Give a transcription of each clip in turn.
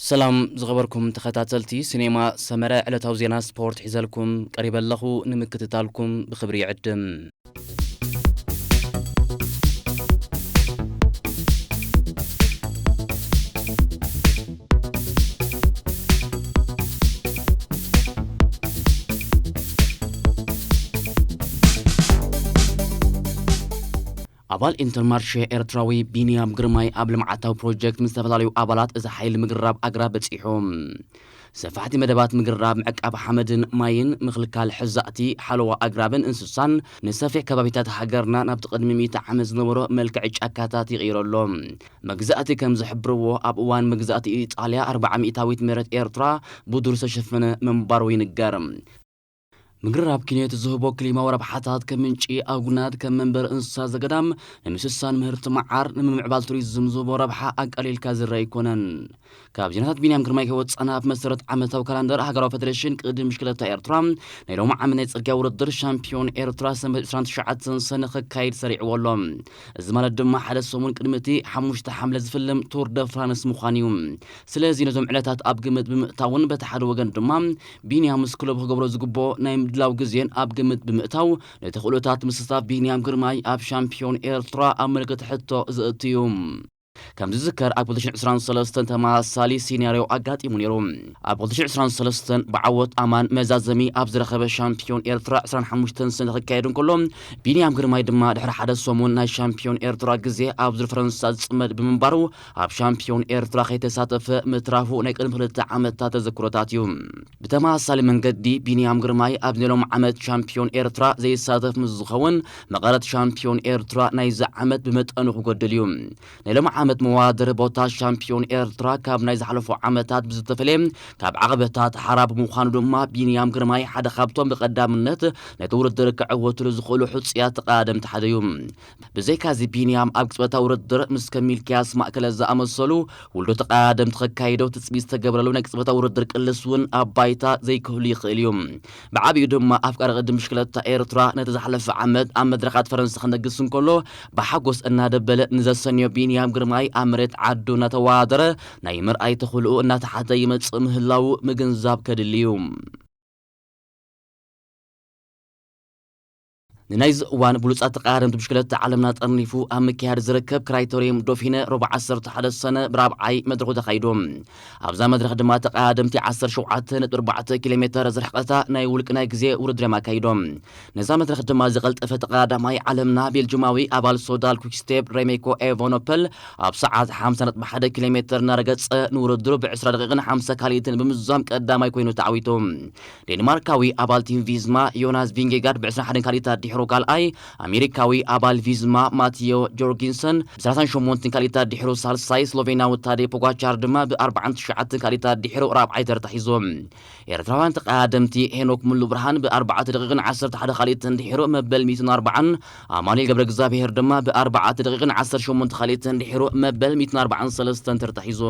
ሰላም ዝኸበርኩም ተኸታተልቲ ስኔማ ሰመረ ዕለታዊ ዜና ስፖርት ሒዘልኩም ቀሪበ ኣለኹ ንምክትታልኩም ብኽብሪ ይዕድም። ኣባል ኢንተርማርሽ ኤርትራዊ ቢንያም ግርማይ ኣብ ልምዓታዊ ፕሮጀክት ምስ ዝተፈላለዩ ኣባላት እዚ ሓይሊ ምግራብ ኣግራብ በፂሑ ሰፋሕቲ መደባት ምግራብ ምዕቃብ ሓመድን ማይን ምክልካል ሕዛእቲ ሓለዋ ኣግራብን እንስሳን ንሰፊሕ ከባቢታት ሃገርና ናብቲ ቅድሚ ሚእቲ ዓመት ዝነበሮ መልክዕ ጫካታት ይቕይረሎ መግዛእቲ ከም ዝሕብርዎ ኣብ እዋን መግዛእቲ ኢጣልያ ኣርብዓ ሚእታዊት መሬት ኤርትራ ብዱር ዝተሸፈነ ምንባሩ ይንገር። ምግራብ ኪንዮት ዝህቦ ክሊማዊ ረብሓታት ከም ምንጪ ኣጉናት፣ ከም መንበሪ እንስሳ ዘገዳም፣ ንምስሳን ምህርቲ መዓር፣ ንምምዕባል ቱሪዝም ዝህቦ ረብሓ ኣቃሊልካ ዝርኣ ኣይኮነን። ካብ ዜናታት ቢንያም ግርማይ ከይወጻና ብመሰረት ዓመታዊ ካላንደር ሃገራዊ ፈደሬሽን ቅድም ብሽክለታ ኤርትራ ናይ ሎሚ ዓመት ናይ ጽርግያ ውድድር ሻምፒዮን ኤርትራ ሰንበት 29 ሰነ ክካየድ ሰሪዕዎ ኣሎ እዚ ማለት ድማ ሓደ ሰሙን ቅድሚ እቲ ሓሙሽተ ሓምለ ዝፍልም ቱር ደ ፍራንስ ምዃን እዩ ስለዚ ነዞም ዕለታት ኣብ ግምት ብምእታውን በቲ ሓደ ወገን ድማ ቢንያም ምስ ክለቡ ክገብሮ ዝግብኦ ናይ ምድላው ግዜን ኣብ ግምት ብምእታው ነቲ ክእሎታት ምስታፍ ቢንያም ግርማይ ኣብ ሻምፒዮን ኤርትራ ኣብ ምልክት ሕቶ ዘእትዩ ከም ዝዝከር ኣብ 2023 ተመሳሳሊ ሲናርዮ ኣጋጢሙ ነይሩ። ኣብ 2023 ብዓወት ኣማን መዛዘሚ ኣብ ዝረኸበ ሻምፒዮን ኤርትራ 25 ስኒ ክካየድ እንከሎ ቢንያም ግርማይ ድማ ድሕሪ ሓደ ሰሙን ናይ ሻምፒዮን ኤርትራ ግዜ ኣብ ዙር ፈረንሳ ዝጽመድ ብምንባሩ ኣብ ሻምፒዮን ኤርትራ ከይተሳተፈ ምትራፉ ናይ ቅድሚ ክልተ ዓመታት ተዘክሮታት እዩ። ብተመሳሳሊ መንገዲ ቢንያም ግርማይ ኣብዚ ሎም ዓመት ሻምፒዮን ኤርትራ ዘይሳተፍ ምስ ዝኸውን መቐረት ሻምፒዮን ኤርትራ ናይዚ ዓመት ብመጠኑ ክጎድል እዩ። ናይ ሎም ዓመት መወዳደሪ ቦታ ሻምፒዮን ኤርትራ ካብ ናይ ዝሓለፉ ዓመታት ብዝተፈለየ ካብ ዓቐበታት ሓራ ብምዃኑ ድማ ቢንያም ግርማይ ሓደ ካብቶም ብቐዳምነት ነቲ ውድድር ክዕወትሉ ዝኽእሉ ሕጹያት ተቐዳደምቲ ሓደ እዩ። ብዘይካዚ ቢንያም ኣብ ቅጽበታዊ ውድድር ምስ ከም ሚልክያስ ማእከለ ዝኣመሰሉ ውልዶ ተቐዳደምቲ ከካይዶ ትጽቢት ዝተገብረሉ ናይ ቅጽበታዊ ውድድር ቅልስ እውን ኣብ ባይታ ዘይክህሉ ይኽእል እዩ። ብዓቢኡ ድማ ኣፍቃሪ ቅድድም ብሽክለታ ኤርትራ ነቲ ዝሓለፈ ዓመት ኣብ መድረኻት ፈረንሳ ክነግስ እንከሎ ብሓጎስ እናደበለ ንዘሰንዮ ቢንያም ግርማይ ኣብ መሬት ዓዱ እናተወዳደረ ናይ ምርኣይ ተኽእሎኡ እናተሓተ ይመጽእ ምህላዉ ምግንዛብ ከድሊ እዩ። ንናይዚ እዋን ብሉጻት ተቐያደምቲ ብሽክለታ ዓለምና ጠርኒፉ ኣብ ምክያድ ዝርከብ ክራይተርየም ዶፊነ ረቡዕ ዓሰርተ ሓደ ሰነ ብራብዓይ መድረኹ ተኻይዱ። ኣብዛ መድረኽ ድማ ተቐያደምቲ ዓሰርተ ሸውዓተ ነጥቢ ኣርባዕተ ኪሎ ሜተር ዝርሕቐታ ናይ ውልቂ ናይ ግዜ ውድድር'ዮም ኣካይዶም። ነዛ መድረኽ ድማ ዝቐልጠፈ ተቐያዳማይ ዓለምና ቤልጁማዊ ኣባል ሶዳል ኩክስቴፕ ረሜኮ ኤቨኖፐል ኣብ ሰዓት ሓምሳ ነጥቢ ሓደ ኪሎ ሜተር እናረገጸ ንውድድሩ ብዕስራ ደቒቕን ሓምሳ ካልኢትን ብምዝዛም ቀዳማይ ኮይኑ ተዓዊቱ። ዴንማርካዊ ኣባል ቲም ቪዝማ ዮናስ ቪንጌጋርድ ብ ዕስራን ሓደን ካልኢታት ዲሕሩ ካልኣይ፣ ኣሜሪካዊ ኣባል ቪዝማ ማትዮ ጆርጊንሰን ብ ሰላሳን ሸሞንትን ካልኢታት ዲሕሩ ሳልሳይ፣ ስሎቬናዊ ታዴ ፖጋቻር ድማ ብ ኣርባዓን ትሽዓትን ካልኢታት ዲሕሩ ራብዓይ ተርታ ሒዙ። ኤርትራውያን ተቐዳደምቲ ሄኖክ ሙሉብርሃን ብ ኣርባዕተ ደቒቕን ዓሰርተ ሓደ ካልኢትን ዲሕሩ መበል ሚእትን ኣርባዓን፣ ኣማኑኤል ገብረእግዝኣብሄር ድማ ብ ኣርባዕተ ደቒቕን ዓሰርተ ሸሞንተ ካልኢትን ዲሕሩ መበል ሚእትን ኣርባዓን ሰለስተን ተርታ ሒዙ።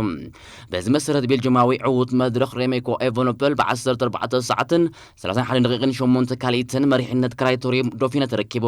በዚ መሰረት ቤልጅማዊ ዕዉት መድረኽ ሬሜኮ ኤቨኖፐል ብ ዓሰርተ ኣርባዕተ ሰዓትን ሰላሳን ሓደን ደቂቕን ሸሞንተ ካልኢትን መሪሕነት ክራይቶሪየም ዶፊነ ተረኪቡ።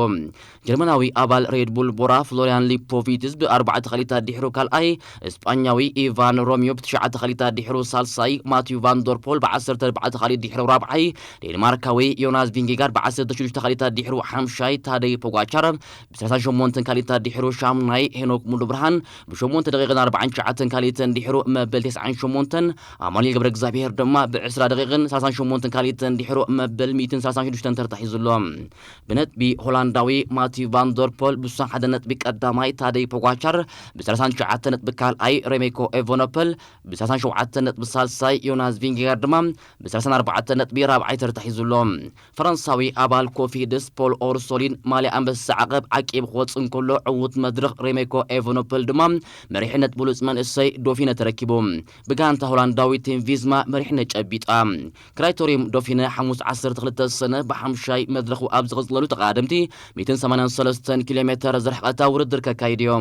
ጀርመናዊ ኣባል ሬድ ቡል ቦራ ፍሎርያን ሊፖቪትዝ ብ ኣርባዕተ ካልኢት ኣዲሕሩ ካልኣይ፣ ስጳኛዊ ኢቫን ሮሚዮ ብ ትሽዓተ ካልኢት ኣዲሕሩ ሳልሳይ፣ ማቲው ቫን ደር ፖል ብ ዓሰርተ ኣርባዕተ ካልኢት ዲሕሩ ራብዓይ፣ ዴንማርካዊ ዮናስ ቪንጌጋርድ ብ ዓሰርተ ሽዱሽተ ካልኢት ኣዲሕሩ ሓምሻይ፣ ታደይ ፖጋቻር ብሰላሳን ሸሞንተን ካልኢት ኣዲሕሩ ሻሙናይ ሄኖክ ሙሉብርሃን ብሸሞንተ ደቂቕን ኣርባዓን ትሽዓተን ካልኢትን ዲሕሩ መበል ተስዓን ሸሞንተን ኣማኑኤል ገብረ እግዚኣብሄር ድማ ብዕስራ ደቂቕን ሰላሳን ሸሞንተን ካልኢትን ዲሕሩ መበል ሚእትን ሰላሳን ሽዱሽተን ተርታ ሒዙ ኣሎ። ብነጥቢ ሆላንዳዊ ማቲው ቫን ደር ፖል ብስሳ ሓደ ነጥቢ ቀዳማይ፣ ታደይ ፖጓቻር ብሰላሳን ትሽዓተ ነጥቢ ካልኣይ፣ ሬሜኮ ኤቨኖፐል ብሰላሳን ሸውዓተ ነጥቢ ሳልሳይ፣ ዮናስ ቪንጌጋር ድማ ብሰላሳን ኣርባዕተ ነጥቢ ራብዓይ ተርታ ሒዙ ኣሎ። ፈረንሳዊ ኣባል ኮፊድስ ፖል ኦርሶሊን ማልያ ኣንበሳ ዓቐብ ዓቂቡ ክወጽእ እንከሎ ዕዉት መድረኽ ሬሜኮ ኤቨኖፐል ድማ መሪሕነት ብሉጽ መንእሰይ ዶፊነ ተረኪቡ ብጋንታ ሆላንዳዊ ቲም ቪዝማ መሪሕነት ጨቢጣ። ክራይቶርዩም ዶፊነ ሓሙስ ዓሰርተ ክልተ ሰነ ብሓምሻይ መድረኹ ኣብ ዝቕጽለሉ ተቐዳደምቲ ሚእትን ሰማንያን ሰለስተን ኪሎሜተር ዝርሕቐታ ውድድር ከካይድዮ።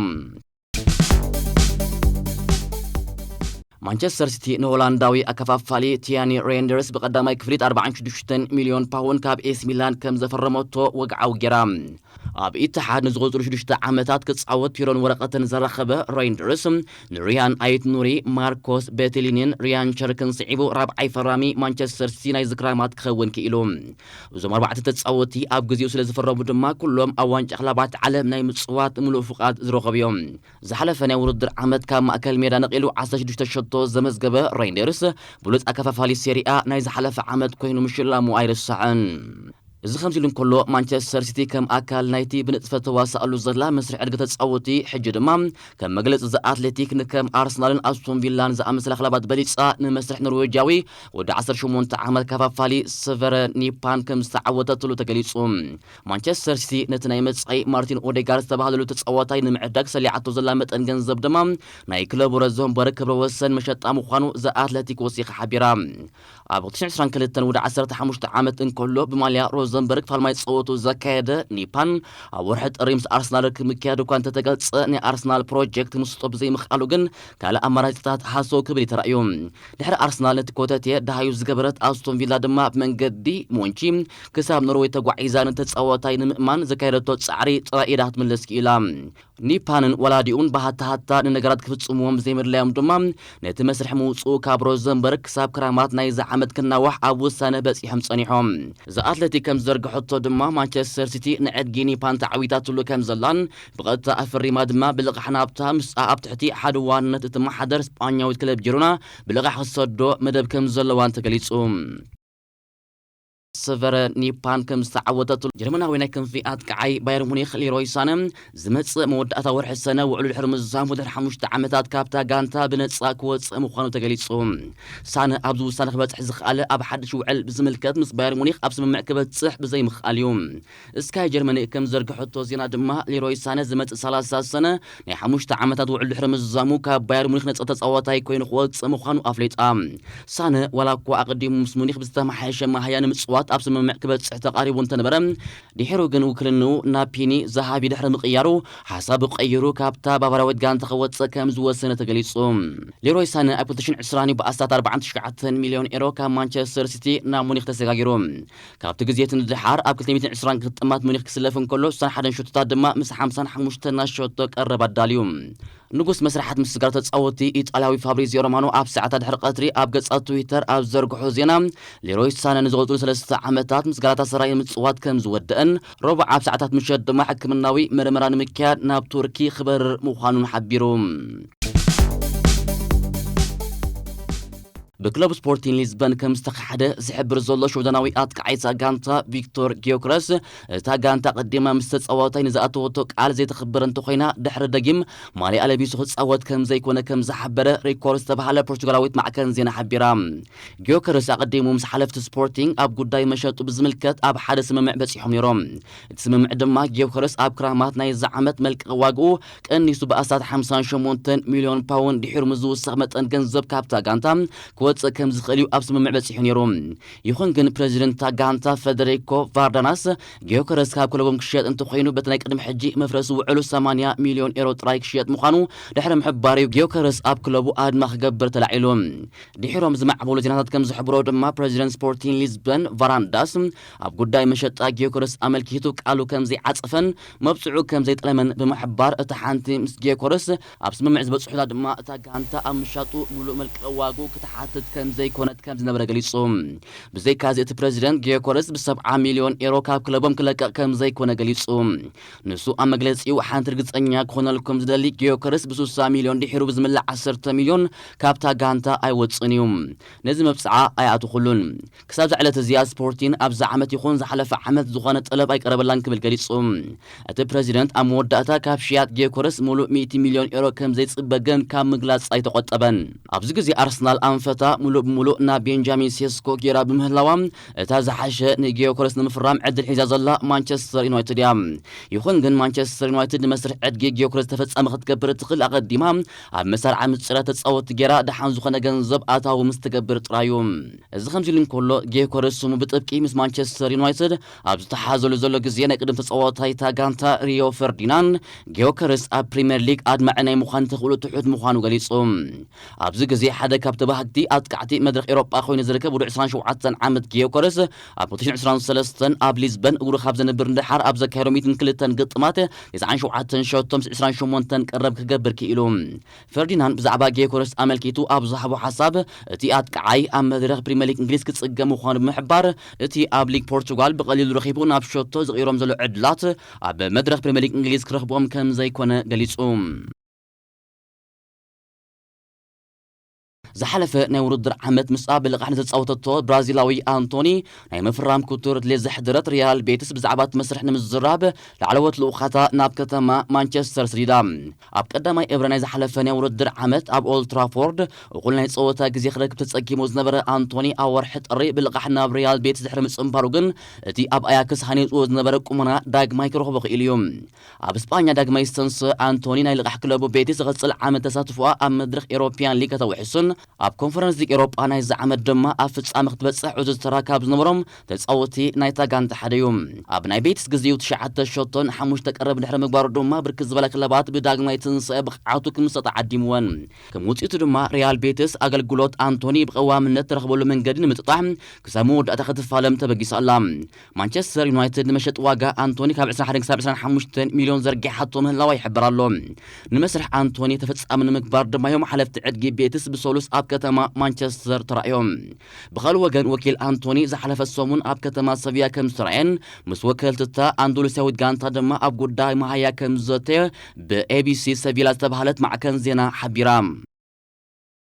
ማንቸስተር ሲቲ ንሆላንዳዊ ኣከፋፋሊ ቲያኒ ሬንደርስ ብቀዳማይ ክፍሊት 46 ሚልዮን ፓውን ካብ ኤስ ሚላን ከም ዘፈረመቶ ወግዓዊ ጌራ ኣብ ኢትሓድ ንዝቕፅሉ ሽዱሽተ ዓመታት ክፃወት ቲሮን ወረቐትን ዘረኸበ ሬንደርስ ንሪያን ኣይት ኑሪ ማርኮስ ቤትሊኒን ሪያን ቸርክን ስዒቡ ራብዓይ ፈራሚ ማንቸስተር ሲቲ ናይ ዝክራማት ክኸውን ክኢሉ እዞም ኣርባዕተ ተጻወትቲ ኣብ ግዜኡ ስለ ዝፈረሙ ድማ ኩሎም ኣብ ዋንጫ ክለባት ዓለም ናይ ምጽዋት ምሉእ ፍቓድ ዝረኸቡ እዮም። ዝሓለፈ ናይ ውድድር ዓመት ካብ ማእከል ሜዳ ነቒሉ ዓሰርተ ሽዱሽተ ሸቶ ዘመዝገበ ሬይንደርስ፣ ብሉጽ ኣከፋፋሊ ሴሪኣ ናይ ዝሓለፈ ዓመት ኰይኑ ምሽላሙ ኣይርሳዕን። እዚ ከምዚ'ሉ እንከሎ፣ ማንቸስተር ሲቲ ከም ኣካል ናይቲ ብንጥፈት ተዋስኣሉ ዘላ መስርሕ ዕድገት ተጻወትቲ፣ ሕጂ ድማ ከም መግለጺ'ዚ ኣትሌቲክ ንከም ኣርሰናልን ኣስቶን ቪላን ዝኣመሰላ ክለባት በሊጻ ንመስርሕ ኖርዌጃዊ ወዲ ዓሰርተ ሸሞንተ ዓመት ካፋፋሊ ሰቨረ ኒፓን ከም ዝተዓወተትሉ ተገሊጹ። ማንቸስተር ሲቲ ነቲ ናይ መጻኢ ማርቲን ኦዴጋር ዝተባህለሉ ተጻዋታይ ንምዕዳግ ሰሊዓቶ ዘላ መጠን ገንዘብ ድማ ናይ ክለቡ ረዘንቦረ ክብረ ወሰን መሸጣ ምዃኑ ዘ ኣትለቲክ ወሲኻ ሓቢራ። ኣብ ሁለት ሽሕ ዕስራን ክልተን ወዲ ዓሰርተ ሓሙሽተ ዓመት እንከሎ ብማልያ ሮዘንበርግ ፋልማይ ጸወቱ ዘካየደ ኒፓን ኣብ ወርሒ ጥሪ ምስ ኣርሰናል ርክብ ምክያዱ እኳ እንተተገልጸ ናይ ኣርሰናል ፕሮጀክት ምስጦ ብዘይምኽኣሉ ግን ካልእ ኣማራጺታት ሃሰው ክብል እዩ ተራእዩ። ድሕሪ ኣርሰናል ነቲ ኮተቴ ደሃዩ ዝገበረት ኣስቶን ቪላ ድማ ብመንገዲ ሞንቺ ክሳብ ኖርወይ ተጓዒዛ ነቲ ተጻዋታይ ንምእማን ዘካየደቶ ጻዕሪ ጥራይ ኢዳ ክትምልስ ክኢላ። ኒፓንን ወላዲኡን ብሃታ ሃታ ንነገራት ክፍጽምዎም ብዘይምድላዮም ድማ ነቲ መስርሕ ምውጽኡ ካብ ሮዘንበርግ ክሳብ ክራማት ናይዚ ዓመት ክናዋሕ ኣብ ውሳነ በጺሖም ጸኒሖም። ዘ ኣትለቲክ ከም ዝዘርግሐቶ ድማ ማንቸስተር ሲቲ ንዕድጊ ኒፓን ተዓዊታትሉ ከም ዘላን ብቐጥታ ኣፈሪማ ድማ ብልቓሕ ናብታ ምስኣ ኣብ ትሕቲ ሓደ ዋንነት እትመሓደር ስጳኛዊት ክለብ ጂሮና ብልቓሕ ክትሰዶ መደብ ከም ዘለዋን ተገሊጹ። ሰቨረ ኒፓን ከም ዝተዓወተትሉ ጀርመናዊ ናይ ክንፊ ኣጥቃዓይ ባየር ሙኒክ ሊሮይ ሳነ ዝመጽእ መወዳእታ ወርሒ ሰነ ውዕሉ ድሕሪ ምዛሙ ድሕሪ ሓሙሽተ ዓመታት ካብታ ጋንታ ብነጻ ክወጽእ ምዃኑ ተገሊጹ። ሳነ ኣብዚ ውሳነ ክበጽሕ ዝኸኣለ ኣብ ሓድሽ ውዕል ብዝምልከት ምስ ባየር ሙኒክ ኣብ ስምምዕ ክበጽሕ ብዘይምኽኣል እዩ። ስካይ ጀርመኒ ከም ዝዘርግሐቶ ዜና ድማ ሊሮይ ሳነ ዝመጽእ ሰላሳ ሰነ ናይ ሓሙሽተ ዓመታት ውዕል ድሕሪ ምዝዛሙ ካብ ባየር ሙኒክ ነጻ ተጻዋታይ ኮይኑ ክወጽእ ምዃኑ ኣፍሊጣ። ሳነ ዋላኳ ኣቐዲሙ ምስ ሙኒክ ብዝተመሓየሸ መሃያ ንምጽዋት ኣብ ስምምዕ ክበጽሕ ተቓሪቡ እንተነበረ ድሒሩ ግን ውክልንኡ ናብ ፒኒ ዛሃቢ ድሕሪ ምቕያሩ ሓሳቡ ቀይሩ ካብታ ባቫርያዊት ጋንታ ክወጽእ ከም ዝወሰነ ተገሊጹ። ሊሮይ ሳነ ኣብ ክልተ ሽሕን ዕስራን እዩ ብኣስታት ኣርባዓን ትሽዓተን ሚልዮን ኤሮ ካብ ማንቸስተር ሲቲ ናብ ሙኒክ ተሰጋጊሩ። ካብቲ ግዜ እቲ ንደሓር ኣብ ክልተ ሚእትን ዕስራን ግጥማት ሙኒክ ክስለፍ እንከሎ ስሳን ሓደን ሸቶታት ድማ ምስ ሓምሳን ሓሙሽተን ናይ ሸቶ ቀረብ ኣዳልዩ። ንጉስ መስርሓት ምስ ስጋር ተጻወትቲ ኢጣልያዊ ፋብሪዚዮ ሮማኖ ኣብ ሰዓታት ድሕሪ ቀትሪ ኣብ ገጻት ትዊተር ኣብ ዝዘርግሖ ዜና ሌሮይ ሳነ ንዝቕጽሉ ሰለስተ ዓመታት ምስ ጋላታሰራይ ምጽዋት ከም ዝወደእን ረቡዕ ኣብ ሰዓታት ምሸት ድማ ሕክምናዊ መርመራ ንምክያድ ናብ ቱርኪ ክበርር ምዃኑን ሓቢሩ። ብክለብ ስፖርቲን ሊዝበን ከም ዝተኻሓደ ዝሕብር ዘሎ ሽወደናዊ ኣጥቃዓይ እታ ጋንታ ቪክቶር ጊዮክረስ እታ ጋንታ ቀዲማ ምስ ተጻዋታይ ንዝኣተወቶ ቃል ዘይተኽብር እንተኾይና ድሕሪ ደጊም ማልያኣ ለቢሱ ክጻወት ከም ዘይኮነ ከም ዝሓበረ ሪኮርድ ዝተባሃለ ፖርቹጋላዊት ማዕከን ዜና ሓቢራ። ጊዮከረስ ኣቐዲሙ ምስ ሓለፍቲ ስፖርቲንግ ኣብ ጉዳይ መሸጡ ብዝምልከት ኣብ ሓደ ስምምዕ በጺሖም ነይሮም። እቲ ስምምዕ ድማ ጊዮከረስ ኣብ ክራማት ናይዚ ዓመት መልቀቒ ዋግኡ ቀኒሱ ብኣስታት ሓምሳን ሸሞንተን ሚልዮን ፓውንድ ድሒሩ ምስ ዝውሰኽ መጠን ገንዘብ ካብታ ጋንታ ክወጽእ ከም ዝኽእል'ዩ ኣብ ስምምዕ በጺሑ ነይሩ። ይኹን ግን ፕረዚደንት እታ ጋንታ ፈደሪኮ ቫርዳናስ፣ ጊዮከረስ ካብ ክለቦም ክሽየጥ እንተኾይኑ በቲ ናይ ቅድሚ ሕጂ መፍረሲ ውዕሉ ሰማንያ ሚልዮን ኤሮ ጥራይ ክሽየጥ ምዃኑ ድሕሪ ምሕባሩ'ዩ ጊዮከረስ ኣብ ክለቡ ኣድማ ክገብር ተላዒሉ። ድሒሮም ዝማዕበሉ ዜናታት ከም ዝሕብሮ ድማ ፕረዚደንት ስፖርቲን ሊዝበን ቫራንዳስ ኣብ ጉዳይ መሸጣ ጊዮከረስ ኣመልኪቱ ቃሉ ከም ዘይዓጸፈን መብጽዑ ከም ዘይጠለመን ብምሕባር፣ እታ ሓንቲ ምስ ጌኮረስ ኣብ ስምምዕ ዝበጽሑላ ድማ እታ ጋንታ ኣብ ምሻጡ ምሉእ መልቀቒ ዋግኡ ክትሓትት ከም ዘይኮነት ከም ዝነበረ ገሊጹ። ብዘይካዚ እቲ ፕረዚደንት፣ ጌኮረስ ብ ሰብዓ ሚልዮን ኤሮ ካብ ክለቦም ክለቅቕ ከም ዘይኮነ ገሊጹ። ንሱ ኣብ መግለጺኡ፣ ሓንቲ ርግጸኛ ክኾነልኩም ዝደሊ፣ ጌዮከረስ ብ ሱሳ ሚልዮን ድሒሩ ብዝምልእ ዓሰርተ ሚልዮን ካብታ ጋንታ ኣይወጽእን እዩ። ነዚ መብጽዓ ኣይኣተኹሉን። ክሳብ'ዛ ዕለት እዚኣ ስፖርቲን ኣብዚ ዓመት ይኹን ዝሓለፈ ዓመት ዝኾነ ጠለብ ኣይቀረበላን ክብል ገሊጹ። እቲ ፕረዚደንት ኣብ መወዳእታ ካብ ሽያጥ ጌዮኮረስ ምሉእ ሚእቲ ሚልዮን ዩሮ ከምዘይጽበ ግን ካብ ምግላጽ ኣይተቖጠበን። ኣብዚ ግዜ ኣርሰናል ኣንፈታ ምሉእ ብምሉእ ናብ ቤንጃሚን ሴስኮ ጌራ ብምህላዋ እታ ዝሓሸ ንጌዮኮረስ ንምፍራም ዕድል ሒዛ ዘላ ማንቸስተር ዩናይትድ እያ። ይኹን ግን ማንቸስተር ዩናይትድ ንመስርሕ ዕድጊ ጌዮኮረስ ተፈጻሚ ክትገብር እትኽእል ኣቐዲማ ኣብ መሳርዓ ምጽራይ ተጻወትቲ ጌራ ደሓን ዝኾነ ገንዘብ ኣታዊ ምስ ትገብር ጥራይ'ዩ። እዚ ከምዚሉ እንከሎ፣ ጌዮከረስ ስሙ ብጥብቂ ምስ ማንቸስተር ዩናይትድ ኣብ ዝተሓሓዘሉ ዘሎ ግዜ፣ ናይ ቅድም ተጻዋታይ እታ ጋንታ ሪዮ ፈርዲናንድ፣ ጌዮከረስ ኣብ ፕሪምየር ሊግ ኣድማዒ ናይ ምዃን ተኽእሎ ትሑት ምዃኑ ገሊጹ። ኣብዚ ግዜ ሓደ ካብ ተባሃግቲ ኣጥቃዕቲ መድረኽ ኤውሮጳ ኮይኑ ዝርከብ ውዱዕ ዕስራን ሸውዓተን ዓመት ጌዮከረስ፣ ኣብ ሁለት ሽሕን ዕስራን ሰለስተን ኣብ ሊዝበን እግሩ ካብ ዘንብር ንደሓር ኣብ ዘካየዶ ሚእትን ክልተን ግጥማት፣ ተስዓን ሸውዓተን ሸቶ ምስ ዕስራን ሸሞንተን ቀረብ ክገብር ክኢሉ። ፈርዲናንድ ብዛዕባ ጌዮኮረስ ኣመልኪቱ ኣብ ዝሃቦ ሓሳብ፣ እቲ ኣጥቃዓይ ኣብ መድረኽ ፕሪመሊግ እንግሊዝ ክጽገም ምዃኑ ብምሕባር፣ እቲ ኣብ ሊግ ፖርቹጋል ብቐሊሉ ረኺቡ ናብ ሸቶ ዝቕይሮም ዘሎ ዕድላት፣ ኣብ መድረኽ ፕሪመሊግ እንግሊዝ ክረኽብኦም ከምዘይኮነ ገሊጹ። ዝሓለፈ ናይ ውድድር ዓመት ምስኣ ብልቓሕ ንዝጻወተቶ ብራዚላዊ ኣንቶኒ ናይ ምፍራም ክቱር ድሌት ዘሕደረት ሪያል ቤቲስ ብዛዕባ እቲ መስርሕ ንምዝራብ ላዕለዎት ልኡኻታ ናብ ከተማ ማንቸስተር ስዲዳ። ኣብ ቀዳማይ እብረ ናይ ዝሓለፈ ናይ ውድድር ዓመት ኣብ ኦልድ ትራፎርድ እኹል ናይ ጸወታ ግዜ ክረክብ ተጸጊሙ ዝነበረ ኣንቶኒ ኣብ ወርሒ ጥሪ ብልቓሕ ናብ ሪያል ቤቲስ ድሕሪ ምጽንባሩ ግን እቲ ኣብ ኣያክስ ሃኒጹዎ ዝነበረ ቁመና ዳግማይ ክረኽቦ ክኢሉ እዩ። ኣብ ስጳኛ ዳግማይ ዝተንስኣ ኣንቶኒ ናይ ልቓሕ ክለቡ ቤቲስ ዝቕጽል ዓመት ተሳትፎኣ ኣብ መድረኽ ኤውሮፕያን ሊግ ከተውሕስን ኣብ ኮንፈረንስ ሊግ ኤውሮጳ ናይዚ ዓመት ድማ ኣብ ፍጻመ ክትበጽሕ ዕዙዝ ተራ ካብ ዝነበሮም ተጻወቲ ናይታ ጋንታ ሓደ'ዩ። ኣብ ናይ ቤቲስ ግዜኡ ትሽዓተ ሸቶን ሓሙሽተ ቀረብን ድሕሪ ምግባሩ ድማ ብርክት ዝበላ ክለባት ብዳግማይ ትንሳኤ ብቕዓቱ ክምስጣ ተዓዲምወን። ከም ውጽኢቱ ድማ ሪያል ቤቲስ ኣገልግሎት ኣንቶኒ ብቐዋምነት ትረኽበሉ መንገዲ ንምጥጣሕ ክሳብ መወዳእታ ክትፋለም ተበጊሳ ኣላ። ማንቸስተር ዩናይትድ ንመሸጢ ዋጋ ኣንቶኒ ካብ 21 ክሳብ 25 ሚልዮን ዘርጊሓቶ ምህላዋ ይሕበር ኣሎ። ንመስርሕ ኣንቶኒ ተፈጻሚ ንምግባር ድማ እዮም ሓለፍቲ ዕድጊ ቤትስ ብሰሉስ ኣብ ከተማ ማንቸስተር ተራእዮም። ብኻልእ ወገን ወኪል ኣንቶኒ ዝሓለፈ ሰሙን ኣብ ከተማ ሰቪያ ከም ዝተራእየን ምስ ወከልቲ እታ ኣንዶሉስያዊት ጋንታ ድማ ኣብ ጉዳይ መሃያ ከም ዝዘተየ ብኤቢሲ ሰቪላ ዝተባህለት ማዕከን ዜና ሓቢራ።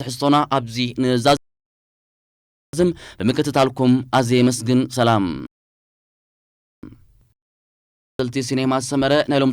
ትሕዝቶና ኣብዚ ንዛዝም። ብምክትታልኩም ኣዝየ የመስግን። ሰላም። ተኸታተልቲ ሲኔማ ሰመረ ናይ ሎሚ